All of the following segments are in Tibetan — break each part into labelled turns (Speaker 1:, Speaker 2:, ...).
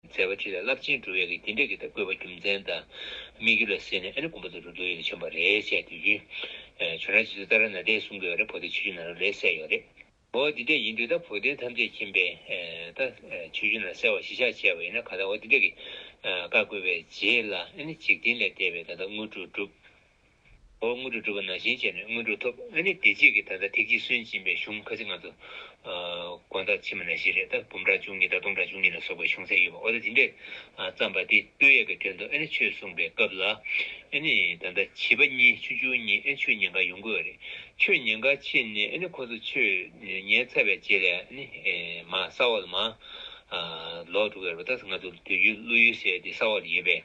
Speaker 1: མཛད་པ་དེ་ལ་རླབས་ཆེན་འགྲོ་བའི་གིས་དེ་འདྲ་གི་དང་བཀོད་པ་རྒྱུ་མཚན་དང་སྨིག་རྒྱུ་ལ་བསྲེས་ནས་ཨ་ནི་གོམ་པ་དང་རུ་རྡོ་ཡོད་ན་ཆོན་པ་རེད་བཤད་དུས་ཀྱི། ཆོན་ར་ཇི་ཚོད་ལྟ་ར་ན་དེ་གསུང་དགོས་རེད་བོ་དེ་ཆོས་རྒྱུ་ན་ར་ལས་གསལ་ཡོད་རེད། འོ་དེ་འདྲ་ཡིན་དུས་ད་བོ་དེ་ཐམས་ཅད་མཁྱེན་པས་ད་ཆོས་རྒྱུ་ན་ར་གསལ་བ་གཞི་ཆགས་བྱས་པ་ཡིན་ན་ག་ད་འོ་དེ་འདྲ་གི། བཀའ་བཀོད་པའི་རྗེས་ལ་ཨ་ནི་འཇིག་རྟེན་ལས་འདས་པའི་ད་ད་དངོས་གྲུབ་བསྒྲུབ། འོ་དངོས་གྲུབ་སྒྲུབ་པ་ནང་བཞིན་བྱས་ནས་དངོས་གྲུབ་ཐོབ་ཨ་ནི་དེ་རྗེས་ཀྱི་ད་ལྟ་ཐེག་ཆེན་སུན་འབྱིན་པའི་གཞུང་ཁ་ཅིག་ང་ཚོ། དགོན་བདག་ཕྱི་མ་ན་བཞི་རེད་ད་འབུམ་ཕྲག་བཅུ་གཉིས་དང་སྟོང་ཕྲག་བཅུ་གཉིས་ལ་སོགས་པའི་གཞུང་ཚད་ཡོད་པ་འོ་ད་དེ་འདྲས་བརྩམས་པ་དེ་སྟོད་ཡས་ཀྱི་དོན་དུ་ཨ་ནི་ཆོས་གསུངས་པའི་སྐབས་ལ་ཨ་ནི་ད་ལྟ་བྱིས་པ་གཉིས་ཆུ་ཆུང་གཉིས་ཨ་ནི་ཆོས་ཉན་ག་ཡོང་དགོས་རེད་ཆོས་ཉན་ག་ཕྱིན་ནས་ཨ་ནི་ཁོ་ཚོ་ཆོས་ཉན་ཚར་བའི་རྗེས་ལས་ཨ་ནི་མ་ས་འོག་ལ་མ། ལོག་འགྲོ་གི་རེད་པ་ད་ང་ཚོ་དུས་རྒྱུན་བླུ་ཡུལ་ཟེར་དེ་ས་འོག་ལ་ཡོད་པས་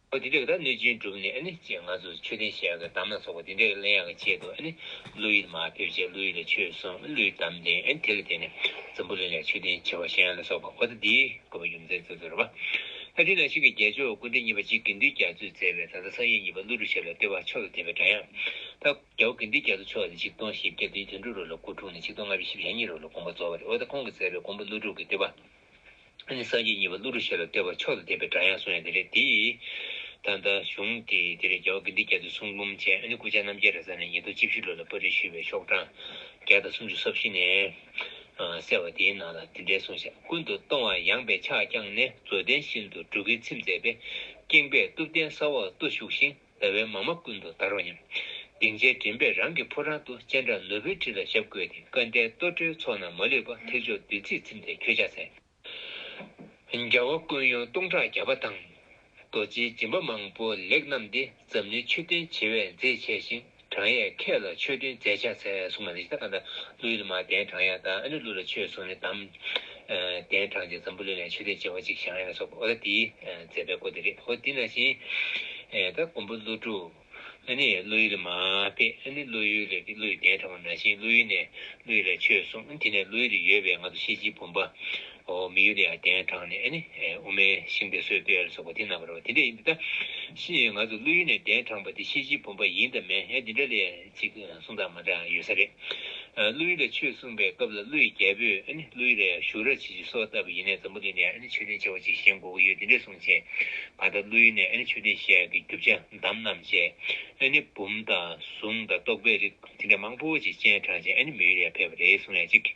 Speaker 1: ཨོ་དེ་འདྲའི་གདའ་གནོད་སྦྱིན་གྲུབ་ནས་ཅེས་ང་ཚོས་མཆོད་རྟེན་ཞལ་གྱི་དམ་ལ་སོགས་པ་དེ་འདྲའི་གླན་ཡག་གི་ཆེད་དུ་ཀླུ་ཡིད་མ་ཕེབས་ཅེས་ཀླུ་ཡིད་ལ་ཆོས་གསུངས་ཀླུ་ཡི་དམ་ལྡན་དེ་ལ་བརྟེན་ནས་འཛམ་བུ་གླིང་ལ་མཆོད་རྟེན་བྱེ་བ་གཞན་ལ་སོགས་པ་ཨོ་ད་དེའི་དགོས་པ་ཡུམ་ཚན་ཚོད་ཚོད་རེད་པ། ཨ་དེ་ནང་བཞིན་གྱི་རྒྱལ་མཆོག་ཀུན་དགའ་གཉིས་པ་གཅིག་དགེ་འདུན་རྒྱ་མཚོས་མཛད་པའི་ད་ལྟ་སངས་རྒྱས་གཉིས་པ་ཀླུ་སྒྲུབ་ཞབས་ལ་ལྟེ་བ་མཆོག་ཏུ་ཐེབས་པའི་སྒྲ་དབྱངས་ད་རྒྱལ་བོ་དགེ་འདུན་རྒྱ་མཚོ་མཆོག་ནས་ཆིག་སྟོང་ཞེ་བརྒྱད་བདུན་དོན་དྲུག་རོ་ལ་སྐུ་འཁྲུངས་ནས་ཆིག་སྟོང་ལྔ་བཅུ་བཞི་བཞི་གཉིས་རོ་ལ་དགོངས་པ་རྫོགས་པ་རེད་ཨོ་ད་ཁོང་གིས་མཛད་པའི་མགོན་པོ་ཀླུ་སྒྲུབ་ཀྱི་ལྟེ་བ། ཨ་ནི་སངས་རྒྱས་གཉིས་པ་གླུ་རུ་ཤེས་ལ་ལྟོས་པ་མཆོག་ཏུ་དད་པའི་སྒྲ་ཡང་གསུངས་ཡང་དེ་རེད་དེ། ད་ལྟ་བྱུང་སྟེ་དེ་རེད་རྒྱལ་བ་དགེ་འདུན་རྒྱལ་ཚོས་གསུང་འབུམ་ཅན་ཨ་ནི་སྐུ་ཕྱྭ་རྣམ་རྒྱལ་རེས་གཟའ་ནས་ཉིས་སྟོང་བཅུ་བཞི་ལོ་ལ་པར་རིས་ཞུས་པའི་ཤོག་གྲངས་བརྒྱ་དང་སུམ་ཅུ་སོ་བཞི་ནས་གསལ་བ་དེའི་ནང་ལ་འདི་འདྲའི་གསུང་བཤད་ཀུན་ཏུ་སྟོང་བ་ཡངས་པའི་ཕྱག་བརྐྱངས་ནས་མཛོད་ལྡན་ཤིན་ཏུ་སྒྲུབ་ཀྱི་ཚིམས་མཛད་པས་སྐྱེངས་པས་གཏུབ་རྟེན་སྲ་བར་བཏུ་བཞུགས་ཤིང། ཟླ་བའི་མ་མ་ཀུན་ཏུ་བདར་བ་སྙམ། སྡིངས་ཆའི་མགྲིན་པས་རང་གི་ཕོ་བྲང་དུ་སྤྱན་དྲངས་ནོར་བུའི་ཁྲི་ལ་ཞབས་བཀོད་དེ་སྐལ་ལྡན་ལྟོ་འཕྲོའི་ཚོགས་རྣམས་མ་ལུས་པ་ཐེག་མཆོག་བདུད་རྩིས་ཚིམས་ཏེ་ཁྱོད་ཕྱག་འཚལ། རྒྱལ་བ་ཀུན་ཡོངས་སྟོང་ཕྲག་བརྒྱ་པ་དང། རྡོ་རྗེའི་སྦྱིན་པ་མང་པོ་ལེགས་བསྣམས་ཏེ་འཛམ་གླིང་ཆོས་ལྡན་བྱེ་བས་མཛེས་བྱས་ཤིང། བགྲང་ཡས་ཁྱེད་ལ་ཆོས་སྟོན་མཛད་བྱ་འཚལ་གསུང་མ་ནི་ཤིད་ད་ཀ་ད་ཀླུའི་ལི་མ་གདན་དྲངས་ཡང་དང་ཨ་ནུ་ཀླུ་ལ་ཆོས་གསུང་ནི་དམ། གདན་དྲངས་ཀྱི་འཛམ་བུ་ལོན་ལས་ཆོས་སྟོན་བྱེད་པ་ཅིག་བཞག་ཡང་སོགས་ཨོ་ད་ཏིའི་མཛད་པའི་སྐོར་དེ་རེད་ཧོ་འདི་ན་བཞིན། ད་ཀོང་པོ་ཀླུ་སྒྲུབ། ཨ་ནི་ཀླུ་ཡུལ་ལི་མ་སྟེ་ཨ་ནི་ཀླུ་ཡུལ་ལི་ཏི་ཀླུ་ཡི་གདན་དྲངས་པ་ན་བཞིན་ཀླུ་ཡུལ་ནས་ཀླུ་ཡུལ་ལ་ཆོས་གསུང་དེ་ནས་ཀླུ་ཡུལ་ལི་ཡོད་པའི་ང་དུ་ཤེས་ཀྱི་བུམ་པ། མི་ཡུལ་ཡ་གདན་དྲངས་ནས་ཨེ་ནི་དབུ་མའི་ཤིང་རྟའི་སྲོལ་སྤེལ་སོགས་པ་དེ་རྣམ་པར་བ་དེ་འདྲ་ཡིན་པས་ད་ཕྱིན་ང་ཚོ་བློ་ཡུལ་ནས་གདན་དྲངས་པ་དེ་ཤེས་བྱའི་བུམ་པ་ཡིན་དང་མེད་ཡང་དེ་འདྲ་ལས་ཅིག་གསུང་སྟངས་མ་འདྲ་ཡོད་ས་རེད། བློ་ཡུལ་ལ་ཆོས་གསུངས་པའི་སྐབས་ལ་བློ་ཡི་རྒྱལ་པོས་ཨེ་ནི་བློ་ཡུལ་ལ་ཡང་བཞུགས་ར་བྱེད་ཅིག་སོགས་ལྟ་བུ་ཡིན་ནས་འཛམ་བུ་གླིང་ནས་ཨེ་ནི་ཆོས་ལྡན་ཆེ་བ་ཅིག་བཞེངས་དགོས་ཀྱི་ཡོད་དེ་འདྲའི་གསུང་བྱས། གང་ལྟར་བློ་ཡུལ་ནས་ཨེ་ནི་ཆོས་ལྡན་ཞལ་གྱི་རྒྱུ་བྱ་འདམ་རྣམས་བཅས་ཨེ་ནི་བུམ་དང་གཟུངས་དང་རྟོགས་པའི་རིགས་དེ་འདྲ་མང་པོ་ཅིག་སྤྱན་དྲངས་རྗེས་ཨེ་ནི་མི་ཡུལ་ཡར་ཕེབས་པ་རེད་གསུང་ཡ་གཅིག།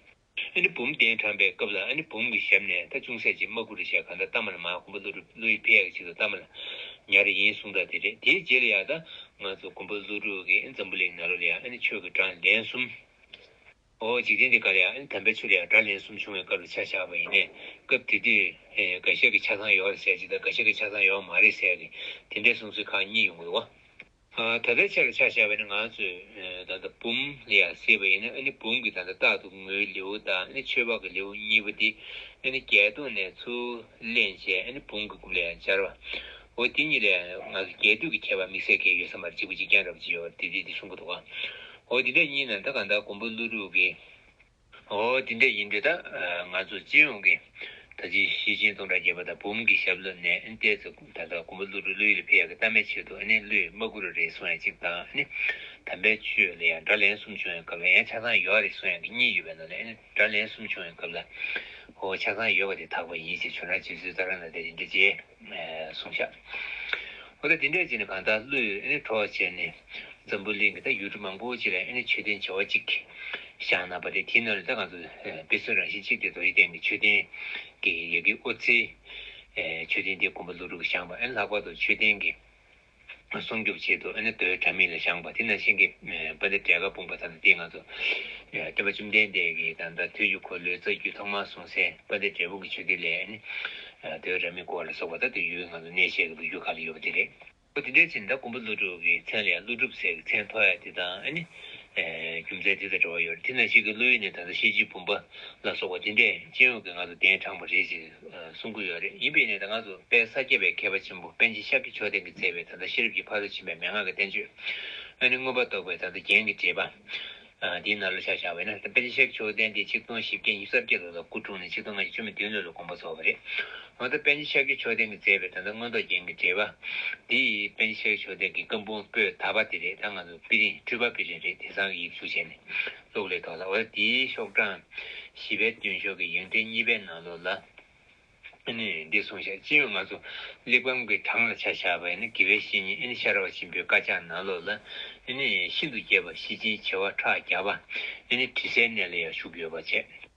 Speaker 1: ཨ་ནི་བུམ་གདན་དྲངས་པའི་སྐབས་ལ་ཨ་ནི་བུམ་གྱི་ཞབས་ནས་ད་ཅུང་ཟད་ཅིག་མ་ཀུ་རི་ཤ་ག་འདྲ་བཏབ་མ་ལ་མ་ཀུམ་པ་ལུ་རུ་ལུ་ཡི་བེ་ཡག་ཅིག་ཏུ་བཏབ་མ་ལ་ཉར་རེ་ཡིན་གསུངས་གྲ་དེ་རེད་དེའི་རྗེས་ལ་ཡག་ད་ང་ཚོ་ཀུམ་པ་ལུ་རུ་གི་འཛམ་བུ་ལེགས་ན་རོ་ལ་ཡག་ཨ་ནི་ཆོས་ཀྱི་དགྲ་ལན་གསུམ། ཨོ་འཇིག་རྟེན་འདི་ག་ལ་ཡག་ཨ་ནི་དམ་པའི་ཆོས་ལ་ཡག་དགྲ་ལན་གསུམ་བྱུང་བའི་སྐབས་ལ་ཆ་བཞག་པ་ཡིན་ནས་སྐབས་དེ་དུས་འགའ་ཤས་ཀྱི་ཆ་ཚང་ཡོག་རེ་ཟེར་ཅིག་ད་འགའ་ཤས་ཀྱི་ཆ་ཚང་ཡོག་མ་རེད་ཟེར་གི་དེ་འདྲའི་གསུང་ཚུལ་ཁག་གཉིས་ཡོང་གི་འདུག་བ། ད་ལྟའི་ཆར་ཕྱག་བྱ་བ་ནི་ང་ཚོས་ད་ལྟ་བུམ་ལ་ཡང་བསྲེས་པ་ཡིན་ན་ནི་བུམ་གྱི་ད་ལྟ་རྟག་ཏུ་ངུའི་ལེའུ་དང་ནི་ཆོས་འཕགས་ཀྱི་ལེའུ་གཉིས་པོ་དེ་ནི་བརྒྱད་སྟོང་ནས་ཚུར་ལེན་བྱས་ནི་བུམ་གྱི་དགུ་ལ་ཡང་སྦྱར་བའོ་དེ་གཉིས་ལ་ཡང་ང་ཚོ་རྒྱས་བསྡུས་ཀྱི་ཁྱད་པར་དམིགས་བསལ་འགའི་ཡོད་ས་མ་རེད་གཅིག་པུ་གཅིག་རྐྱང་རབ་ཅིག་ཡོད་པ་དེ་དེ་དེ་གསུམ་པོ་འདུག་གོ་འོ་དེ་འདྲ་གཉིས་ནང་ད་གང་ལྟར་མགོན་པོ་ཀླུ་སྒྲུབ་ཀྱི། ཨོ་དེ་འདྲ་ཡིན་དུས་ད་ང་ཚོ་སྤྱི་ཡོངས་ཀྱིས་ད་ཅི་ཞི་ཅིན་སྟོང་དྲག་བརྒྱད་པ་དང་འབུམ་གྱི་ཞབས་ལོ་ནས་བལྟས་ཚེ་ད་ལྟ་དགོན་པ་ཀླུ་རུ་ཀླུ་ཡུལ་ཕལ་ཡག་གི་གཏམ་མའི་ཆེད་དུ་ཀླུའི་མ་སྐུ་རུ་རེ་སོང་ཡང་གཅིག་དང་དམ་པའི་ཆོས་ལ་ཡང་དགྲ་ལན་གསུམ་བྱུང་ཡང་གབ་ལ་ཡང་ཆགས་སྡང་ཡོད་རེ་སོང་ཡང་གི་གཉིས་ཡོད་པའི་ནང་ནས་དགྲ་ལན་གསུམ་བྱུང་ཡང་གབ་ལ་ཧོ་ཆགས་སྡང་ཡོད་པ་དེ་དག་པ་ཡིན་ཞེས་ཆོས་རང་སྤྱི་ཚུལ་ལྟར་རང་ལ་དེ་རིན་དྲི་བཅས། གསུངས། ཞབས་ལ་འདི་འདྲས་བྱས་ནས་གང་དག་བློས་གྲོགས་བྱས་ནས། འཛམ་བུ་གླིང་གི་ད་ཡུལ་གྲུ་མང་པོ་ཅིག་ལ་མཆོད་རྟེན་བྱེ་བ་གཅིག་བཞག་ན་པ་དེ་དེའི་ནང་ལས་ད་གང་དུ་དཔེ་མཚོན་རང་བཞིན་གཅིག་སྟེ་དོ་ཡི་སྟེང་གི་མཆོད་རྟེན་གྱི་ཡི་གེ་ཨོ་རྩེའི་མཆོད་རྟེན་དེ་དགོན་པ་ཀླུ་སྒྲུབ་ཀྱི་ཞང་པ་ལྷག་པར་དུ་མཆོད་རྟེན་གྱི་སྲུང་སྐྱོབ་བྱེད་དུ་ཨ་ནེ་ཏོའི་དྲ་མིག་ལ་བཞག་པ་དེ་ནང་བཞིན་གྱི་པ་འདི་བྲེ་ག་སྤུངས་པ་དང་དེའི་ང་ཚོ། སྟོན་པ་བཅོམ་ལྡན་འདས་ཀྱིས་ད་ལྟ་དུས་ཀྱི་འཁོར་ལོའི་རྩ་རྒྱུད་ཐོག་མར་གསུངས་སའི་པ་འདི་བྲེ་སྤུངས་ཀྱི་ཆོས་སྡེ་ལས་ཨ་ནེ་ཏོའི་དྲ་མིག་སྐོར་ལ་སོགས་པ་ད་དུ་ཡུལ་གྱི་ང་ཚོ་གནས་བཤད་ཀྱི་བུ་རྒྱུད་ཁག་ལ་ཡོད་པ་དེ་རེད། པོ་དེ་འདྲའི་ཕྱིར་ད་ཀོང་པོ་ཀླུ་སྒྲུབ་ཀྱི་མཚན་ལས་ཀླུ་སྒྲུབ་ཟེར་གྱི་མཚན་ཐོགས་ཡ་དེ་དང་ཨ་ནེ། རྒྱུ་མཚན་དེ་དང་འབྲེལ་བ་ཡོད་རེད་དེ་ནང་བཞིན་གྱི་ཀླུ་ཡོད་ནས་ད་ལྟ་ཤེས་བྱའི་བུམ་པ་ལ་སོགས་པ་དེ་འདྲས་སྤྱན་འོས་ཀྱི་ང་ཚོ་གདན་དྲངས་པ་རེད་ཅེས། གསུང་གི་ཡོད་རེད་ཡིན་པའི་ནས་ད་སྔ་སུ་དཔལ་ས་སྐྱ་པའི་མཁས་པ་ཆེན་པོ་པན་ཆེན་ཤཱཀྱ་མཆོག་ལྡན་གྱིས་བསྩལ་བའི་ད་ལྟ་ཤེས་རབ་ཀྱི་ཕ་རོལ་ཕྱིན་པའི་མན་ངག་གི་བསྟན་བཅོས་ཨ་ནི་མངོན་པར་རྟོགས་པའི་ད་ལྟ་རྒྱན་གྱི་འགྲེལ་པ། འདིའི་ནང་ལ་ཆ་བཞག་པས་ན་དཔལ་ཆེན་ཤཱཀྱ་མཆོག་ལྡན་ཏེ་ཆིག་སྟོང་བཞི་བརྒྱ་ཉིས་བརྒྱ་ལོ་ལ་སྐུ་འཁྲུངས་ནས་ཆིག་སྟོང་ལྔ་བརྒྱ་བཅུ་མི་བདུན་ལོ་ལ་དགོངས་པ་རྫོགས་པ་རེད། འོན་ཏེ་པན་ཆེན་ཤཱཀྱ་མཆོག་ལྡན་གྱིས་བསྩལ་བའི་ད་ལྟ་མངོན་རྟོགས་རྒྱན་གྱི་འགྲེལ་པ། འདི་པན་ཆེན་ཤཱཀྱ་མཆོག་ལྡན་གྱི་བཀའ་འབུམ་པོད་དག་པ་དེ་རེད་ད་ང་ཚོ་པི་རིང་སྤྲུལ་པ་པི་རིང་རེད་དེ་ཚང་གི་ཡིག་གཟུགས་བྱས་ནས་སོགས་ལས་དོན་ལ་བའི་དེའི་ཤོག་གྲངས་བཞི་པའི་སྟོན་ཤོག་གི་ཡོན་ཏན་གཉིས་པའི་ནང་ལོགས་ལ་ནི་འདི་གསུངས་ཤིང་སྤྱི་ཡོངས་ལྔ་གཙོ་གླེགས་བམ་གྱི་གྲངས་ལ་ཆ་བཞག་པའི་ནི་དགེ་བའི་བཤེས་གཉེན་ཤར་བ་ཆེན་པོའི་བཀའ་ཕྱག་ན་ལོགས་ལ་ནི་ཤིན་ཏུ་རྒྱས་པ་བཞི་ཅན་བྱེ་བ་ཕྲག་བརྒྱ་པ་ནི་དྲི་ཟའི་གནས་ལ་ཡང་བཞུགས་ཡོད་པར་བྱས།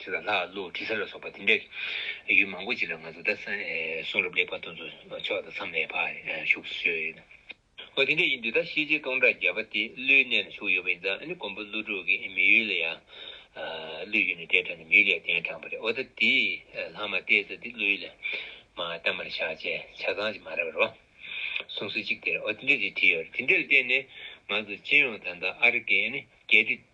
Speaker 1: ཁྲི་དང་ལྷ་ཀླུ་དྲི་ཟ་ལ་སོགས་པ་དེ་འདྲའི་ཡུལ་མང་པོ་ཅིག་ལ་ང་ཚོ་ད་གསུང་རབ་ལེགས་པར་སྟོན་ཚུལ་ཕྱོགས་དང་མཚམས་མེད་པར་བཞུགས་སུ་གསོལ། འོ་དེ་འདྲ་ཡིན་དུས་ད་ཤེས་བྱའི་སྟོང་ཕྲག་བརྒྱ་པ་དེ་ཀླུའི་གནས་ལ་བཞུགས་ཡོད་པ་ཡིན་ཙང་ཨ་ནི་མགོན་པོ་ཀླུ་སྒྲུབ་ཀྱི་མི་ཡུལ་ལ་ཡང་ཀླུའི་ཡུལ་ནས་གཏེར་དྲངས་ནས་མི་ཡུལ་ལ་ཡང་གཏེར་དྲངས་པ་རེད་འོ་ད་དེ་ལྷག་མ་གཏད་ས་དེ་ཀླུའི་ཡུལ་ལ་མ་གཏད་མར་བཞག་ཅེས་ཆ་ཚང་ཅིག་མ་རེད་བ་གསུང་སྲོལ་ཅིག་དེ་རེད་འོ་དེ་འདྲ་ཅིག་བྲིས་ཡོད་རེད་དེ་འདྲ་ལ་བརྟེན་ནས་ང་ཚོ་སྤྱི་ཡོངས་ད་ལྟ་ཨ་རི་ཀའི་ཨ་ནི་རྒྱལ་སྤྱི།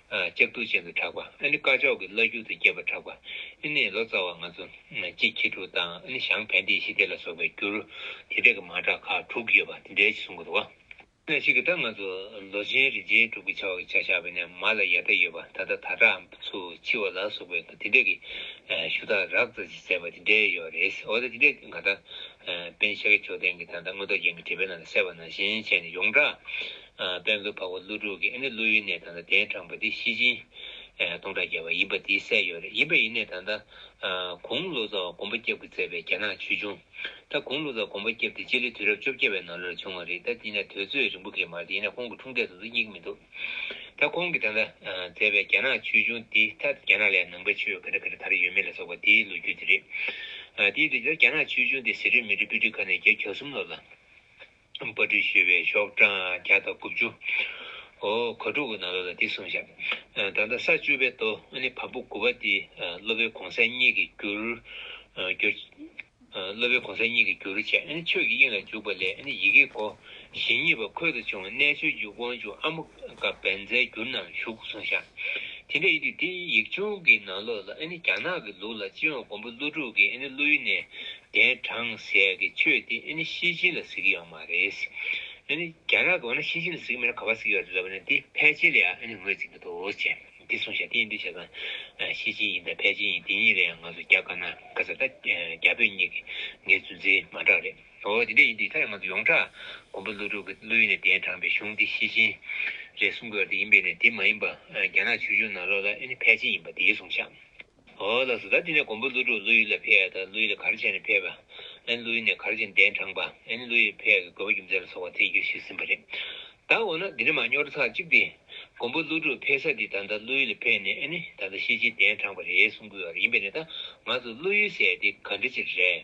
Speaker 1: སྐྱབས་གདུག་ཅན་དུ་གྲགས་པ། ཨ་ནི་དཀར་ཕྱོགས་ཀྱི་བླ་རྒྱུད་དུ་སྐྱེས་པར་གྲགས་པ། ཨི་ནི་ལོ་ཙཱ་བ་ང་ཚོ་སྤྱི་ཁྱི་དྲུག་དང་ཨ་ནི་ཞང་བན་ཏི་ཤི་ཏི་ལ་སོགས་པའི་འགྱུར་དེ་དག་གི་མ་གྲགས་ཁག་དྲུག་ཡོད་པ་དེ་འདྲའི་གསུང་གི་རོ། ན་ཞིག་གི་ད་ང་ཚོ་ལོ་ཆེན་རིན་ཆེན་དྲུག་གི་བྱ་བ་གི་བྱ་བཞག་བས་ན་མ་ལ་ཡ་ད་ཡོད་པ་ད་ལྟ་ད་གྲའམ་ཚུ་འཆི་བ་ལ་སོགས་པའི་དེ་འདྲ་གི་ཞུ་དག་རགས་རྩ་ཆེ་མཛད་པ་དེ་འདྲའི་ཡོད་པ་རེད་འོ་ད་དེ་འདྲའི་གང་ད་པན་ཤཱ་ཀྱ་མཆོག་ལྡན་གྱི་ད་ད་སྔོན་རྡོ་རྗེ་འགའི་བྲིས་པའི་ནང་དུ་གསལ་བ་ན་གཞན་ཆད་ནས་ཡོངས་གྲགས་དཔལ་མཛོད་འཕགས་པ་ཀླུ་དྲུག་གིས་ཨེ་ནི་ཀླུ་ཡི་གནས་དང་ད་གདན་དྲངས་པ་འདི་ཤི་སྦྱིན། སྟོང་ཕྲག་བརྒྱ་པ་ཡིན་པ་འདིའི་སྲས་ཡོད་རེད་ཡིན་པ་ཡི་གནས་དང་ད། གུང་བློ་བཟང་བ་གོམ་པ་སྐྱབས་ཀྱིས་མཛད་པའི་རྒྱ་ནག་ཆོས་འབྱུང། ད་གུང་བློ་བཟང་གོམ་པ་སྐྱབས་འདི་སྤྱི་ལོའི་དུས་རབས་བཅོ་བརྒྱད་པའི་ནང་ལོར་བྱུང་བ་རེད་ད་དེ་ནས་དོལ་ཚོས་རིན་པོ་གེ་མར་དེ་ཡིན་ན་ཁོང་གི་འཁྲུངས་འདས་སོགས་སུ་སྙིགས་མི་འདུག་ད་ཁོང་གིས་ད་ད་མཛད་པའི་རྒྱ་ནག་ཆོས་འབྱུང་འདི་ད་རྒྱ་ནག་ལས་ནང་པའི་ཆོས་ག་འདྲ་ག་འདྲ་དར་ཡོད་མེད་ལ་སོགས་པ་དེའི་ལོ་རྒྱུས་དེ་རེད། དེའི་དུས་ད་རྒྱ་ནག་ཆོས་འབྱུང་འདི་ཟི་རིལ་མི་རིལ་པུ་ཏི་ཁ་ནས་བརྒྱད་གྱ་གསུམ་ལོར་ལ། པར་སྤྲོས་བཤད་པའི་ཤོག་གྲངས་བརྒྱ་དང་དགུ་བཅུ། འོ་གོ་དྲུག་གི་ནང་ལོགས་ལ་འདི་གསུངས་བྱ། ད་ལྟ་ས་བཅུ་པའི་མདོ་ནི་བམ་པོ་དགུ་པ་འདི་སློབ་པའི་གོང་ས་གཉིས་ཀྱི་རྒྱུར། སློབ་པའི་གོང་ས་གཉིས་ཀྱི་རྒྱུར་བྱས་ཆོས་ཀྱི་དབྱིངས་ལ་འཇུག་པ་ལས་ཡི་གེ་སྒོ་བཞི་གཉིས་པ་ཁོལ་དུ་ཕྱུང་བ་རྣལ་འབྱོར་གྱི་དབང་ཕྱུག་ཨ་མོ་ཀ་བན་ཛའི་རྒྱུར་ནང་བཞུགས་གསུངས་བྱ། དེ་འདྲ་ཡིན་དུས་འདི་ཡིག་ཆུང་གི་ནང་ལོགས་ལ་ནི་རྒྱ་ནག་གི་ལུགས་ལ་སྤྱི་ཡོངས་མགོན་པོ་ཀླུ་སྒྲུབ་ཀྱིས་ཀླུ་ཡུལ་ནས་དེ་དྲང་ཟད་ཀྱི་ཆོས་དེ་ཨེ་ནི་ཤེས་བྱེད་ལ་གཟིགས་ཡོད་མ་རེད། ཨེ་ནི་རྒྱ་ནག་གི་འོ་ན་ཤེས་བྱེད་ལ་གཟིགས་མེད་ན་ག་པར་གཟིགས་ཡོད་རེད་ལབ་པ་ནི་དེ་ཕལ་ཆེར་ལ་ཡང་ཨེ་ནི་ངོས་འཛིན་གྱི་འདུག་ཅེས་འདི་གསུངས་བཞག་དེའི་འདུས་བྱས་དང། ཤེས་བྱེད་ཡིན་དང་ཕལ་ཆེར་ཡིན་དེ་གཉིས་ལ་ཡང་ང་ཚོ་རྒྱ་དཀར་ནག་ག་ས་ད་རྒྱ་བོད་གཉིས་ཀྱི་ངའི་རྫུན་རྩིས་མ་འདྲ་བ་རེད། འོ་དེ་འདྲ་ཡིན་དུས་ད་ཡང་ང་ཚོ་ཡོངས་གྲགས་མགོན་པོ་ཀླུ་སྒྲུབ་ཀྱི་བློ་ཡུལ་ནས་དེའི་དྲངས་པའི་གཞུང་དེ་ཤེས་བྱེད་རེད་གསུང་དགོས་ཡོད་དེ་ཡིན་པས་ནི་དེ་མ་ཡིན་པ་རྒྱ་ནག་ཆོས་འབྱུང་ནང་ལོགས་ལ་ཨེ་ནི་ཕལ་ཆེར་ཡིན་པ་དེའི་གསུང་བཞག། ཧོ། ལ་སོ་ད་དེ་ནས་མགོན་པོ་ཀླུ་སྒྲུབ་ཀླུ་ཡུལ་ལ་ཕེབས་ད་ཀླུ་ཡུལ་ལ་གར་བྱས་ནས་ཕེབས་པ་ཨན་ཀླུ་ཡུལ་ནས་གར་བྱས་གདན་དྲངས་པ་ཨན་ཀླུ་ཡུལ་ཕེབས་ཀྱི་དགོས་པ་རྒྱུ་མཚན་ལ་སོགས་པ་ཐད་ཀྱི་ཞུས་ཟིན་པ་རེད་ད་འོ་ན་འདི་འདྲ་མ་སྙོར་ཚར་གཅིག་སྟེ་མགོན་པོ་ཀླུ་སྒྲུབ་ཕེབས་ས་དེ་ད་ད་ཀླུ་ཡུལ་ལ་ཕེབས་ནས་ཨནི་ད་ད་ཤེས་བྱའི་གདན་དྲངས་པ་རེད་གསུང་དགོས་བ་རེད་ཡིན་པས་ན་ད་ང་ཚོ་ཀླུ་ཡུལ་ཟེར་དེ་ག་འདྲ་ཅིག་རེད།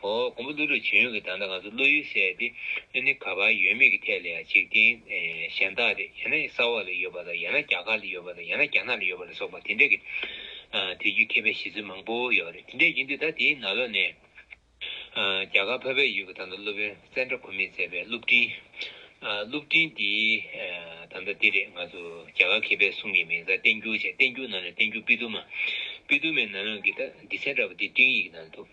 Speaker 1: ཧོ། ཀོང་པོ་ཀླུ་སྒྲུབ་བྱེད་ཡུལ་གྱི་བརྡ་འདི་ང་ཚོ་བློ་ཡུལ་གསལ་ཏེ་ཀླུ་ནི་ག་པར་ཡོད་མེད་ཀྱི་ཐད་ལ་ཡང་འཇིག་རྟེན་གཞན་དག་སྟེ་ཡང་ན་ས་འོག་ལ་ཡོད་པ་དང་ཡང་ན་རྒྱ་གར་ལ་ཡོད་པ་དང་ཡང་ན་རྒྱ་ནག་ལ་ཡོད་པ་ལ་སོགས་པ་དེ་འདྲ་གི་དུས་རྒྱུན་མཁས་པའི་བཞེད་ཚུལ་མང་པོ་ཡོད་རེད་དེ་འདྲའི་ཡིན་དུས་ད་དེའི་ནང་ལོགས་ནས་རྒྱ་གར་ཕ་བའི་ཡུལ་གྱི་ད་ལྟ་སློབ་དཔོན་ཙན་དྲ་ཁོ་མིས་མཛད་པའི་གླུ་བྲིན། གླུ་བྲིན་འདི་ད་ལྟ་འདི་རེད་ང་ཚོ་རྒྱ་གར་མཁས་པའི་གསུང་གི་མིང་བཟའ་བསྟན་འགྱུར་བྱས་བསྟན་འགྱུར་ནང་ནས་བསྟན་འགྱུར་པི་ཏུ་མ། པི་ཏུ་མའི་ནང་ལོགས་ཀྱི་ད་འདི་ཚན་དྲ་བ་འདི་སྤྲིངས་ཡིག་ནང་དུ།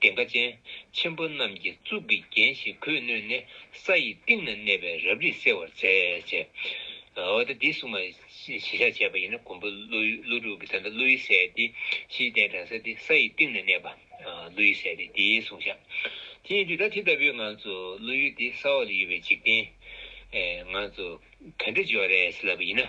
Speaker 1: གདེངས་ཀ་ཅན། ཆེན་པོ་རྣམས་ཀྱིས་གཙུག་གི་རྒྱན་ཞིག་གོས་བསྣོལ་ནས་ས་ཡི་གཏིང་ན་གནས་པའི་རབ་རིབ་སེལ་བར་མཛད། འོ་ད་འདི་སྲུང་མ་བཞི་ཤ་བྱས་པ་ཡིན་ན་མགོན་པོ་ཀླུ་དྲུག་གི་ཚེ་འདི་ཀླུ་ཡི་སྲས་ཏེ་བཞིའི་གདན་དྲངས་སྲས་ཏེ་ས་ཡི་གཏིང་ན་གནས་པ་ཀླུ་ཡི་སྲས་ཏེ་དེའི་གཟུངས་བཞག། དེ་ཡིན་དུས་ད་དེ་ལྟ་བུའི་ངང་ཚུལ་ཀླུ་ཡུལ་ཏེ་ས་འོག་ལ་ཡོད་པའི་འཇིག་རྟེན། ངང་ཚུལ་ག་འདྲ་འཇོག་རེས་ལབ་པ་ཡིན་ན།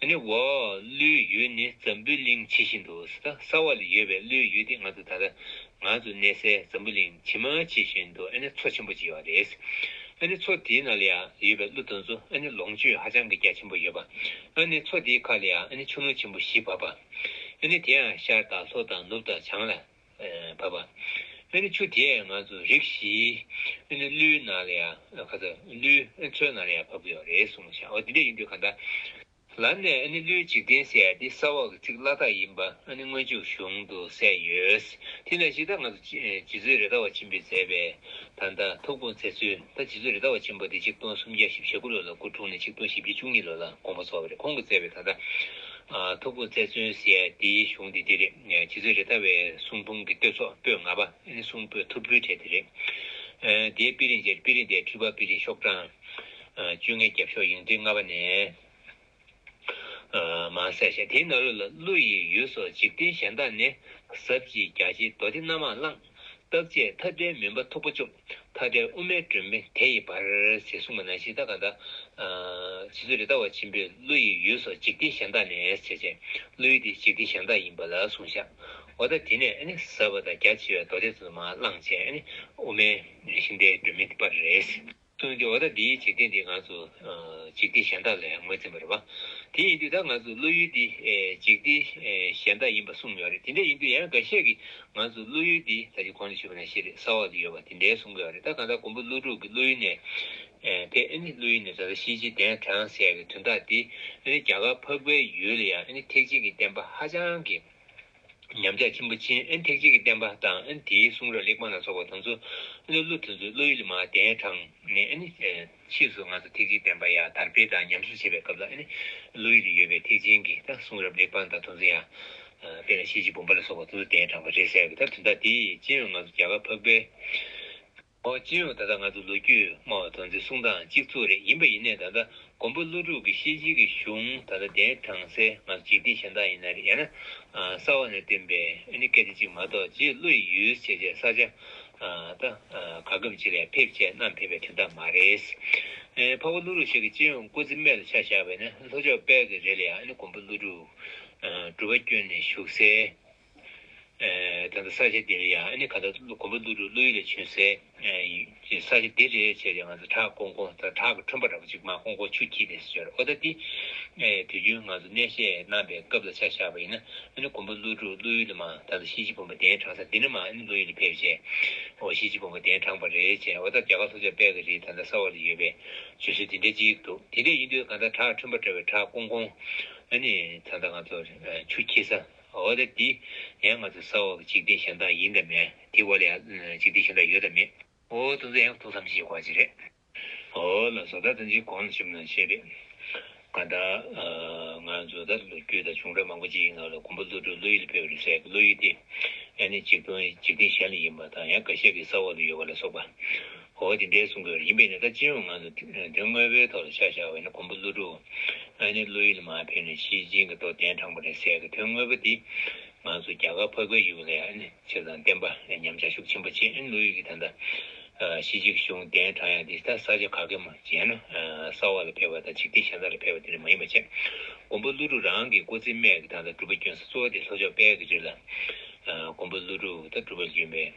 Speaker 1: ཨ་ནི་བ། ཀླུའི་ཡུལ་ནི་འཛམ་བུའི་གླིང་ཇི་བཞིན་དུ་གསང་བ་ལ་ཡོད་པའི་ཀླུའི་ཡུལ་འདི་ང་ཚོ་ད་ལྟ་ང་ཚོ་གནས་སའི་འཛམ་བུ་གླིང་ཇི་མ་ཇི་བཞིན་དུ་ཨ་ནི་མཚོ་ཆེན་པོ་ཅིག་ཡོད་པ་རེད། ཨ་ནི་མཚོ་དེའི་ནང་ལ་ཡང་ཡོད་པའི་ཀླུ་དང་མཚོ་ཨ་ནི་ལོངས་སྤྱོད་ཧ་ཅང་གི་རྒྱ་ཆེན་པོ་ཡོད་པ། ཨ་ནི་མཚོ་དེའི་ཁ་ལ་ཡང་ཨ་ནི་ཆུ་ཀླུང་ཆེན་པོ་བཞི་བབས་པ། ཨ་ནི་དེའང་ཤར་དང་ལྷོ་དང་ནུབ་དང་བྱང་ལ་བར་པ། ཨེ་ནི་ཆུ་དེས་ང་ཚོ་རིགས་བཞིའི། ཨེ་ནི་ཀླུའི་ནང་ལ་ཡང་ག་ས། ཀླུའི་མཚོའི་ནང་ལ་ཡང་བབ་ཡོད་རེད་གསུངས་བྱ་འོ་དེ་འདྲ་ཡིན་དུས་ག་ད། ལ་ནས་ཨེ་ནི་ཀླུའི་འཇིག་རྟེན་ཟེར་དེ་ས་འོག་གི་ཚིག་བླ་དྭགས་ཡིན་པ་ཨེ་ནི་སྔོན་ཆུ་གཞུང་དུ་གསལ་ཡོད། དེ་ནས་ཤི་ད་ང་ཚོ་རྗེ་བཙུན་རེ་དྭགས་བ་ཆེན་པོས་མཛད་པའི། ད་ད་ཐུགས་དགོངས་མཛད་ཚུལ་ད་རྗེ་བཙུན་རེ་དྭགས་བ་ཆེན་པོ་དེ་གཅིག་སྟོང་སུམ་བརྒྱ་བཞི་བཞི་དགུ་ལོ་ལ་སྐུ་འཁྲུངས་ནས་གཅིག་སྟོང་བཞི་བརྒྱ་བཅུ་གཉིས་ལོ་ལ་དགོངས་པ་རྫོགས་པ་རེད་ཁོང་གིས་མཛད་པའི་ད་ད། ཐུགས་དགོངས་མཛད་ཚུལ་ཟེར་དེའི་གཞུང་དེ་འདི་རེད། ཁྱེད་ཚོས་རེ་ལྟ་བའི་གསུང་འབུམ་གྱི་བསྟོད་ཚོགས་པོད་ལྔ་པ་གསུང་པོད་ཐུབ་སྤྲུལ་གྲས་དེ་རེད། དེའི་དཔེ་རིས་འབྱེད་པའི་དཔེ་རིས་དེ་སྤྲུལ་པ་དཔེ་རིས་ཤོག་གྲངས་བཅོ་ལྔའི་རྒྱབ་ཤོག་ཡིག་འབྲི་ལྔ་པ་ནས། མ་གསལ་བྱས་དེའི་ནང་ལུས་ལ་ཀླུ་ཡི་ཡུལ་སོགས་འཇིག་རྟེན་གཞན་དག་ནས་ཟབ་ཅིང་རྒྱ་ཆེའི་མདོ་སྡེ་སྣ་མང་བླངས། བརྟག་དཔྱད་མཐའ་བྲལ་མུན་པ་མཐུག་པོ་གཅོམ། མཐའ་བྲལ་དབུ་མའི་སྒྲོན་མེ་དེ་ཡིས་འབར། ཟེར་གསུངས་པ་ན་ཤིང་རྟ་གང་དག། བྱེད་རྩོལ་རི་དྭགས་བ་ཆེན་པོས་ཀླུ་ཡི་ཡུལ་སོགས་འཇིག་རྟེན་གཞན་དག་ནས་བྱས། ཀླུ་ཡུལ་དེ་འཇིག་རྟེན་གཞན་དག་ཡིན་པ་ལ་གསུངས། ཤྭོ་ད་དེ་ནས་ཟབ་པ་དང་རྒྱ་ཆེ་བའི་མདོ་སྡེ་ཚོ་དུ་མ་བླངས། དབུ་མའི་ཤིང་རྟའི་སྒྲོན་མེ་འདི་སྤར། སྟོན་གྱི་འོ་ད་འདིའི་འཇིག་རྟེན་འདི་ང་ཚོ་འཇིག་རྟེན་གཞན་དག་ལས་ངོས་འཛིན་པར་བ། དེ་ཡིན་དུས་ད་ང་ཚོའི་བློ་ཡུལ་འདི་འཇིག་རྟེན་གཞན་དག་ཡིན་པར་གསུངས་ཡོད་རེད་དེ་འདྲ་ཡིན་དུས་ཡང་འགའ་ཤས་ཀྱིས་ང་ཚོའི་བློ་ཡུལ་འདི་ད་ཅི་གོང་ནས་ཞུས་པ་ན་ཤེས་རེད་ས་འོག་ཏུ་ཡོད་པ་དེ་འདྲའི་གསུང་གི་ཡོད་རེད་ད་གང་ལྟར་ཀོང་པོ་ཀླུ་སྒྲུབ་ཀྱི་བློ་ཡུལ་ནས་ཕེབས་ཨེ་ནི་བློ་ཡུལ་ནས་ད་ལྟ་ཤེས་བྱའི་གདན་དྲངས་ཟེར་ཡག་གི་དོན་དག་འདི་ཨེ་ནི་རྒྱ་གར་འཕགས་པའི་ཡུལ་ལ་ཡང་ཨེ་ནི་ཐེག་ཆེན་གྱི་བསྟན་པ་ཧ་ཅང་གི་ཉམས་ཆག་ཆེན་པོ་ཆེན་ཨན་ཐེག་ཆེན་གྱི་བསྟན་པ་དང་ཨན་དེའི་གསུང་རབ་གླེགས་བམ་ལ་སོགས་པ་དང་ཚུལ་བློ་དེ་ཚོའི་བློ་ཡུལ་མ་བསྟན་གྲང་ནས་ཨན། ཕྱིས་སུ་ང་ཚོ་ཐེག་ཆེན་བསྟན་པ་ཡང་དར་སྤེལ་དང་ཉམས་གསོ་བྱེད་པའི་སྐབས་ལ་ཨན་བློ་ཡུལ་ཡོད་པའི་ཐེག་ཆེན་གྱི་གསུང་རབ་གླེགས་བམ་དང་དང་ཚུལ་ཡང་དཔེ་ལ་བྱེད་ཀྱི་བུམ་པ་ལ་སོགས་པ་དང་ཚུལ་བསྟན་དྲངས་པ་རེད་ཟེར་བའི་དོན་དག་དེ་ཅིའང་ང་ཚོ་རྒྱ་གར་འཕགས་པའི་ཨོ་ཅེ་ཨོ་ད་ལྟ་ང་ཚོ་ལོ་རྒྱུས་སྨྲ་བ་དོན་ཚེ་གསུང་དང་གཅིག་མཚུངས་རེད་ཡིན་པ་ཡིན་ནའི་ད་ལྟ་མགོན་པོ་ཀླུ་སྒྲུབ་ཀྱི་ཤེས་བྱེད་ཀྱི་གཞུང་ད་ལྟ་དེ་དྲངས་ཚེ་ང་ཚོ་འཇིག་རྟེན་གཞན་དག་ཡིན་ན་རེད་ཡང་ན་གསར་བ་ནས་བཏོན་པའི་ཨ་ནི་སྐད་ཆ་གཅིག་མ་གཏོགས་རྗེས་བློ་ཡི་ཡུལ་བྱེད་བྱེད་ས་ཆ་ད་ག་སྐབས་ཅི་ལས་ཕེབས་བྱས་གནམ་ཕེབས་པའི་དོན་དག་མ་རེད། འཕགས་པ་ཀླུ་རུ་ཤག་གི་སྤྱི་ཡོངས་སྐུ་ཚེ་རྨད་དུ་ཆགས་བཞག་པས་ནི་ལྷོ་ཕྱོགས་དཔལ་གྱི་རི་ལ་ཡང་ཨ་ནི་མགོན་པོ་ཀླུ་སྒྲུབ་གྲུབ་པ་བསྐྱོན་ནས་བཞུགས་སའི། ད་ལྟ་ས་ཆ་འདི་རེད་ཡ་ཨ་ཁ་ད་གོམ་པ་འདུག་འགྲོ་བློ་ཡིད་ལ་བྱོན་ཟེ། ས་ཆ་འདི་རེད་བྱས་ཏེ་ང་ཚོ་བྲག་ཀོང་ཀོང་ད་བྲག་གི་ཁྲོན་པ་འདྲ་པོ་ཅིག་མ་ཀོང་ཀོང་ཆུ་འཁྱིལ་ནས་ཟེར་ཨོ་ད་འདི། དུས་རྒྱུན་ང་ཚོ་གནས་བཤད་གནང་པའི་སྐབས་ལ་ཆ་བཞག་པ་ཡིན་ན་ཨ་གོམ་པ་འདུག་འགྲོ་བློ་ཡུལ་ལ་མ་ད་ལྟ་གཤིན་རྗེ་བུམ་པ་གདན་དྲངས་ས་འདི་ན་མ་ཨ་བློ་ཡུལ་ལ་ཕེབས་བྱས། ཨོ་གཤིན་རྗེ་བུམ་པ་གདན་དྲངས་པ་རེད་བྱས་ཨོ་ད་རྒྱ་གར་ལྷོ་ཕྱོགས་དཔལ་གི་རི་ད་ད་ས་འོག་ལ་ཡོད་པས་བྱོས་ཟེར་དེ་འདྲ་ཅིག་འདུག་དེ་འདྲ་ཡིན་དུས་གང་ལྟར་བྲག་ཁྲོན་པ་འདྲ་བའི་བྲག་ཀོང་ཀོང་ཨ་ནི་ད་ལྟ་ང་ཚོ་ཆུ་འཁྱིལ་ས། འོ་དེབ་འདི་ཡང་ང་ཚོའི་ས་འོག་གི་འཇིག་རྟེན་གཞན་དག་ཡིན་དང་མེད་དེའི་འོག་ལ་ཡང་འཇིག་རྟེན་གཞན་དག་ཡོད་དང་མེད། འོ་ཏུང་ཙེ་ཡང་ཐུགས་བསམ་བཞེས་དགོས་ཅི་རེད། འོ་ལ་བཟོ་ལྟ་དང་གཅིག་གོང་ལ་ཞུམ་ན་ཆེ་རེད། ཀ་ད། ང་བཟོ་ལྟ་ལ་ལོ་རྒྱུས་དང་བྱུང་རབས་མང་པོ་ཅི་ཡིན་ངག་ལ་གོམས་པ་བློ་གྲོས་བློ་ཡིད་ལ་འཕེལ་བ་རེད་ཟེར་གི་བློ་ཡིད་དེ། ཡང་ནི་འཇིག་རྟེན་གཞན་ལ་ཡིན་པ་དང་ཡང་འགའ་ཤས་ཀྱིས་ས་འོག་ཏུ་ཡོད་པ་ལ་སོགས་པ། འོ་དེ་འདྲའི་གསུང་དགོས་རེད་ཡིན་པས་ནི་ད་སྤྱི་ཡོངས་ངང་དུ་དོན་དངོས་པོའི་ཐོག་ལ་ཆ་བཞག་པ་ནི་གོང་བུ་ཀླུ་སྒྲུབ་ཨ་ནེ་བློ་ཡིད་ལ་མ་ཕེབས་ནས་ཕྱིའི་སྤྱིའི་གི་སྟོབས་ལྡན་དྲངས་པ་རེད་ཟེར་གི་དོན་དངོས་པོ་དེ་ང་ཚོ་རྒྱ་གར་ཕག་པའི་གཞུང་ལས་ཨ་ནེ་ཚེ་དང་བསྟན་པ་ལས་ཉམས་ཆག་ཤུགས་ཆེན་པོ་བྱེད་བློ་ཡིད་ཀྱི་ད་ལྟ་ཕྱི་སྤྱི་གི་གཞུང་གདན་དྲངས་ཡང་དེ་ད་ས་ཆ་ག་གེ་མོ་བྱས་ན་ས་འོག་ལ་ཕེབས་པ་དང་འཇིག་རྟེན་གཞན་དག་ལ་ཕེབས་པ་དེ་འདྲ་མ་ཡིན་པ་བྱས་གོང་བུ་ཀླུ་སྒྲུབ་རང་གི་སྐུ་ཚེ་སྨད་གི་ད་ལྟ་སྒྲུབ་པ་བསྐྱོན་ས་གཙོ་བོ་དེ་ལྷོ་ཕྱོགས་དཔལ་གྱི་རི་ལ་གོང་བུ་ཀླུ་སྒྲུབ་ད་སྒྲུབ་པར་བསྐྱོན་པས།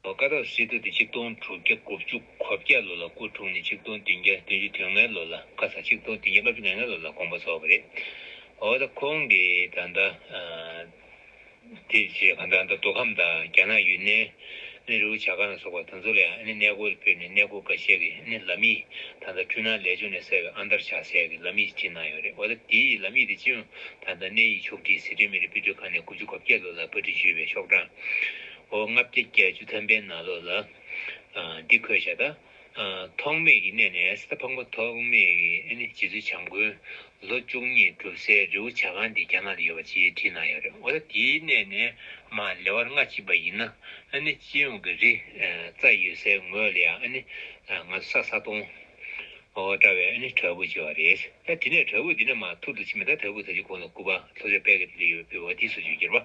Speaker 1: བ་སྐ་རགས་སི་ཏུ་དེ་གཅིག་སྟོང་དྲུག་བརྒྱ་དགུ་བཅུ་གོ་བརྒྱད་ལོ་ལ་སྐུ་འཁྲུངས་ནས་གཅིག་སྟོང་བདུན་བརྒྱ་བདུན་ཅུ་དོན་ལྔའི་ལོ་ལ་བཀའ་ས་གཅིག་སྟོང་བདུན་བརྒྱ་ལྔ་བཅུ་ནས་ལྔའི་ལོ་ལ་དགོངས་པ་རྫོགས་པ་རེད། འོ་ད་ཁོང་གི་ད་ལྟ་དེ་རྗེས་གང་ལྟར་ད་མདོ་ཁམས་དང་རྒྱ་ནག་ཡུན་ནན་ནི་རི་བོ་བྱ་དཀར་ནག་སོགས་པ་དེ་ཚོ་ལས་ནི་གནས་སྐོར་ཕེབས་ནས་གནས་སྐོར་འགའ་ཤས་ཀྱི་ནི་ལམ་ཡིག་ད་ལྟ་འཕྲུལ་སྣང་ལས་ཅུང་ནས་གསལ་བའི་ཨ་མདར་ཕྱག་འཚལ་གྱི་ལམ་ཡིག་བྲིས་གནང་ཡོད་རེད་འོ་ད་དེའི་ལམ་ཡིག་དེ་སྤྱི་ཡོངས་ད་ལྟ་གནས་ཡིག་ཕྱོགས་བསྒྲིགས་ཟི་ཁྲོན་མི་རིགས་དཔེ་སྡུར་ཁང་ནས་དགུ་བཅུ་གོ་བརྒྱད་ལོ་ལ་བཀའ་ཁྲི་ཞུས་པའི་ཤོག་གྲངས་ཧོ། ལྔ་བརྒྱ་བརྒྱད་ཅུ་ཐམ་པའི་ནང་ལོགས་ལ། འདི་འཁོད་བྱ་དང། ཐོགས་མེད་ཀྱི་གནས་ནས་སི་ཏཱ་ཕག་མོ་ཐོགས་མེད་ཀྱི་རྗེ་བཙུན་བྱམས་མགོན་ལོ་བཅུ་གཉིས་གྲུབ་སའི་རི་བོ་བྱ་ཁང་འདི་རྒྱ་ནག་ལ་ཡོད་པ་ཅེས་བྲིས་གནང་ཡོད་རེད་འོ་ད་དེའི་གནས་ནས་མ་ལེ་བར་སྔ་ཕྱི་བ་ཡིན་ན་སྤྱི་ཡོངས་ཀྱི་རི་རྩ་ཡོད་སའི་ངོས་ལ་ཡང་ང་ཚོ་ས་ས་སྟོང་འོ་འདྲ་བའི་དྲ་འབུ་བྱེ་བ་རེད་ད་དེ་ནས་དྲ་འབུ་འདི་ནས་མ་ཐུར་དུ་ཕྱིན་པ་ད་དྲ་འབུ་ད་ཅི་གོང་ལ་སྐུ་པ་ལྷོ་ཕྱོགས་དཔལ་གྱི་རི་ལ་ཡོད་པའི་བ་དེའི་སོ་ཅོ་གྱུར་པ།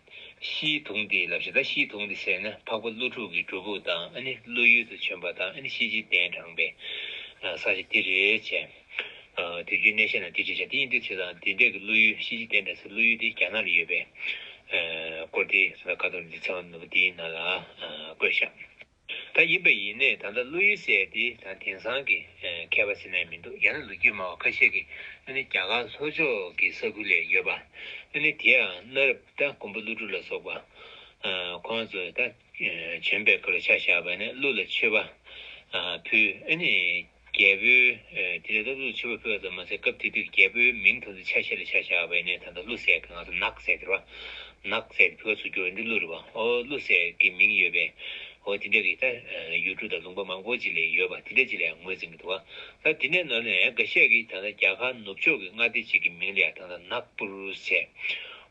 Speaker 1: ཤིའི་དུང་དེའི་ལ་བཞི་དང་ཤིའི་དུང་དེ་ཟེར་ན་འཕགས་པ་ཀླུ་ཕྲུག་གི་སྒྲུབ་ཕུག་དང་ཀླུ་ཡུལ་དུ་བྱོན་པ་དང་ཤེས་བྱའི་གདན་དྲངས་པའི་ས་ཆ་དེ་རེད་བྱས། དུས་རྒྱུན་གནས་བཤད་ན་དེ་རེད་བྱས་དེ་ཡིན་དུས་ཚོད་དང་དེ་འདྲས་ཀྱི་ཀླུ་ཡུལ་ཤེས་བྱའི་གདན་དྲངས་སའི་ཀླུ་ཡུལ་དེ་རྒྱ་ནག་ལ་ཡོད་པས། སྐོར་དེ་ཟླ་དཀར་དོང་འདི་ཚང་ནོར་བུ་དེའི་ནང་ལ་བཀོད་བཞག། ད་ཡིན་པ་ཡིན་ནས་ད་ལྟ་བློ་ཡུལ་གསལ་ཏེ་ད་དེང་སང་གི་མཁས་པ་ཟེར་ནས་མི་འདུག་ཡང་ན་ལོ་རྒྱུས་སྨྲ་བ་ཁ་ཤས་ཀྱིས་ནི་རྒྱ་གར་ལྷོ་ཕྱོགས་ཀྱི་ས་ཁུལ་ལས་ཡོད་པ་ནི་དེའང་གནའ་རབས་ད་མགོན་པོ་ཀླུ་སྒྲུབ་ལ་སོགས་པ་ཁོང་ཚོས་ད་བྱོན་པའི་སྐུ་ལ་ཆ་བཞག་པ་ནི་ཀླུ་ལ་མཆོད་པ་ཕུལ། རྒྱལ་པོས། དེ་ལས་སྟོབས་ཚུལ་ཆེ་བ་ཕུལ་བ་ཙམ་མ་ཟད་སྐབས་དེ་དུས་ཀྱི་རྒྱལ་པོའི་མིང་དང་དུ་ཆ་ཤས་ལ་ཆ་བཞག་པའི་ནས་ད་ལྟ་ཀླུ་སྲས་ཀྱི་ནང་དུ་ནགས་སྲས་ཟེར་བ། ནགས་སྲས་དེ་ཕུ་ག་ཚུར་བསྒྱུར་བ་འདི་ཀླུ་རི་བ་ཨོ་ཀླུ་སྲས་ཀྱི་མིང་ཡོད་པས། ཨོ་དེ་འདྲ་གི་ད་ཡུལ་གྲུ་དང་ལུང་པ་མང་པོ་ཅིག་ལས་ཡོད་པ་དེ་འདྲ་ཅིག་ལ་ཡང་ངོས་འཛིན་གྱི་འདུག་ད་དེ་འདྲའི་ནང་ནས་འགའ་ཤས་ཀྱིས་ད་ལྟ་རྒྱ་གར་ནུབ་ཕྱོགས་ཀྱི་མངའ་སྡེ་གཅིག་གི་མིང་ལ་ཡང་ད་ལྟ་ནག་པུར་སྲས་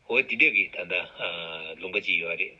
Speaker 1: ཨོ་དེ་འདྲ་གི་ད་ལྟ་ལུང་པ་ཅིག་ཡོད་པ་རེད།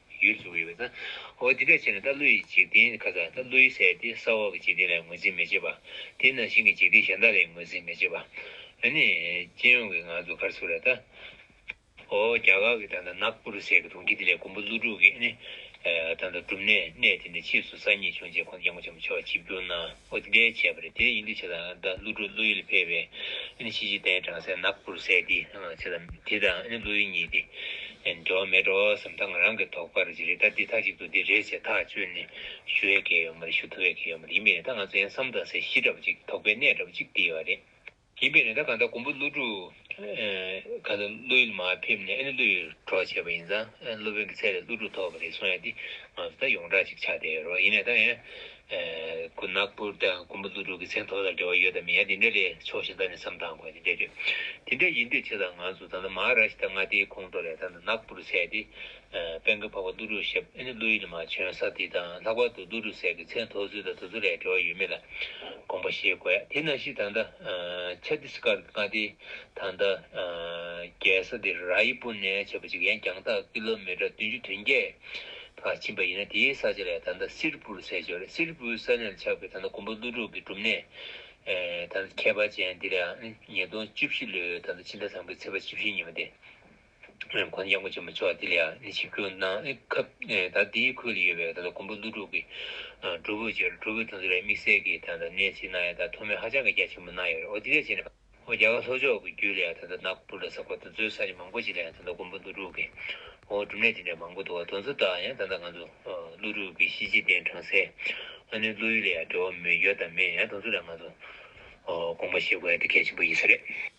Speaker 1: ཡུལ་གཟུགས་ཡོད་ན། འོ་འདི་འདྲ་བྱས་ན་ད་ལོ་ཡི་འཇིག་རྟེན་ཁ་ཚ་ད་ལོ་ཡི་ཟས་དེ་ས་འོག་གི་འཇིག་རྟེན་ལས་ངོས་འཛིན་མི་བྱེད་པ། དེ་ནང་བཞིན་གྱི་འཇིག་རྟེན་གཞན་དག་ལས་ངོས་འཛིན་མི་བྱེད་པ། འོ་ནི། སྤྱི་ཡོངས་ཀྱི་ང་ཚོ་གར་ཚུགས་ར་ད། འོ་རྒྱ་གར་གྱི་ད་ལྟ་ནག་སྤུ་རུ་ཟས་ཀྱི་གྲོང་ཁྱེར་དེ་ལས་ཀོང་པོ་ཀླུ་དྲུག་གི་ནི། ད་ལྟ་གྲུབ་ནས་གནས་དེ་ནས་ཕྱིས་སུ་ས་གཉིས་བྱུང་རྗེས་ཁོང་རྒྱ་མགོ་ཆེན་པོ་ཆོས་བྱེད་བསྒྱུར་ན། ཨོ་དེ་འདྲའི་བྱས་པ་རེད་དེ་ཡིན་དུས་ཆེ་དང་ད་ཀླུ་སྒྲུབ་ཀླུ་ཡུལ་ཕེབས་པས་ཨེ་ཕྱི་ཕྱི་དན་བྲང་སའི་ནག་པོར་བསད་དེ་ཆེ་དང་དེ་དང་ཨེ་ཀླུ་ཡུལ་གཉིས་ཏེ་འགྲོ་བ་མེད་འགྲོ་བ་བསམ་ཐག་ང་རང་གི་དོགས་པར་ཇི་རེད་ད་འདི་ཐ་གཅིག་ཏུ་འདི་རེད་ཅེས་ཐག་གཅོད་ནི་ཞུ་བའི་གལ་ཡོད་མ་རེད་ཞུ་ཐུབ་པའི་གལ་ཡོད་མ་རེད་ཡིན་མིན་རེད་ད་ང་ཚོ་ཡང་བསམ་ཐག་སའི་གཞི་འདྲ་པོ་ཅིག་དོགས་པའི་གནས་འདྲ་པོ་ཅིག་དེ་ཡོད་རེད། ཡིན་པས་ན་ད་གང་ལྟར་ཀོང་པོ་ཀླུ་སྒྲུབ། གང་ལྟར་ཀླུ་ཡུལ་མ་ཕེབས་ནས་ཨེ་ནི་ཀླུ་ཡུལ་གྲོགས་བྱས་པ་ཡིན་ཙང་སློབ་དཔོན་གྱི་ཚད་ལས་ཀླུ་སྒྲུབ་ཐོབ་པ་རེད་གསུང་ཡ་དེ། ང་ཚོ་ད་ཡོངས་གྲགས་ཅིག་ཆགས་བསྡད་ཡོད་རོགས་ཡིན་ནའི་ད་ཡང། ཁོ་ནག་པོར་ད་ཀོང་པོ་ཀླུ་སྒྲུབ་ཀྱི་ཚད་ཐོག་ལ་འབྲེལ་བ་ཡོད་དམ་མིན་ཡ་དེ་འདྲ་ལས་ཆོག་ཤིག་ད་ནས་བསམ་དང་དགོས་དེ་འདྲ་རེད། དེ་འདྲ་ཡིན་དུས་ཆེ་ད་ང་ཚོ་ད་ལྟ་མ་ར་ཤི་ད་མངའ་སྡེའི་ཁོང་ཁྲོ་ལས་ད་ནག་པོར་ཚད་དེ། དཔལ་མཁའ་འཕགས་པ་ཏུ་རུ་ཞབས་ཨེ་ནི་ཀླུ་ཡི་ནི་མ་བྱོན་ས་དེ་དང་ལྷག་པར་དུ་ཏུ་རུ་ཟས་ཀྱི་ཚད་མཐོ་ཚུལ་དང་དུ་ཚོད་ལས་བྲེལ་བ་ཡོད་མེད་ལ་དགོངས་པ་ཞེས་བཀོད་དེ་ན་ཤི་ད་ནྡ Chhattisgarh གི་མཁའ་དེ་དང་ནྡ་རྒྱལ་ས་དེ་ར་ཡི་པུ་ནེ་བྱས་པ་ཅིག་ཡན་རྒྱང་ཐག་ཀི་ལོ་མི་ཀྲ་བདུན་ཅུ་དོན་བརྒྱད་ལྷག་ཕྱིན་པ་ཡིན་ན་དེའི་ས་ཆ་ལས་ད་ནྡ Sirpur ཟས་བྱོ་རེད Sirpur ས་གནས་ལ་ཆགས་པའི་ད་ནྡ་དགོན་པ་ཀླུ་གྲོགས་ཀྱི་སྒྲུབ་གནས་ད་ནྡ་ཁྱད་པར་ཅན་དེ་ལའང་ཉིས་སྟོང་བཅུ་བཞི་ལོའི་ད་ནྡ་ཕྱི་ཟླ་དང་པོའི་ཚེས་པ་བཅུ་བཞི་ཉིན་མ་སྟེ། དགོན་ཆེན་པོ་ཆེན་པོ་ཅོག་དེ་ལ་ཡང་ཆིབས་བསྒྱུར་གནང་སྐབས་ད་ལྟའི་ཁུལ་ལ་ཡོད་པའི་ད་ལྟ་མགོན་པོ་ཀླུ་སྒྲུབ་ཀྱི་སྒྲུབ་ཕུག་ཅེས་སྒྲུབ་ཕུག་དེ་ཚོ་ལ་དམིགས་བསལ་གྱི་ད་ལྟ་གནས་ཚུལ་གནང་ཡོད་ད་ཐོག་མའི་ཧ་ཅང་གི་རྒྱ་ཆེན་པོ་གནང་ཡོད་རེད་འོ་དེ་ལས་ཆེ་ན་འོ་རྒྱ་གར་ལྷོ་ཕྱོགས་ཀྱི་རྒྱུད་ལ་ཡང་ད་ལྟ་ནག་པུ་ལ་ས་ཁོ་ད་ཚོའི་ས་ཆ་མང་པོ་ཅིག་ལ་ཡང་ད་ལྟ་མགོན་པོ་ཀླུ་སྒྲུབ་ཀྱི་འོ་སྒྲུབ་གནས་དེ་འདྲ་མང་པོ་འདུག་བ་དོན་ཚོ་དག་ཡང་ད་ད་ང་ཚོ་ཀླུ་སྒྲུབ་ཀྱི་གཞི་གཅིག་ལྡན་དྲང་སའི་ཨ་ནུའི་ཀླུ་ཡུལ་ལ་ཡང་འབྲེལ་བ་མེད་ཡོད་དམ་མེད་ཡང་དོན་ཚོ་དག་ང་ཚོ་དགོངས་པ་བཞེས་དགོས་ཡ་དེ་གལ་ཆེན་པོ་ཡིན་ས་རེད།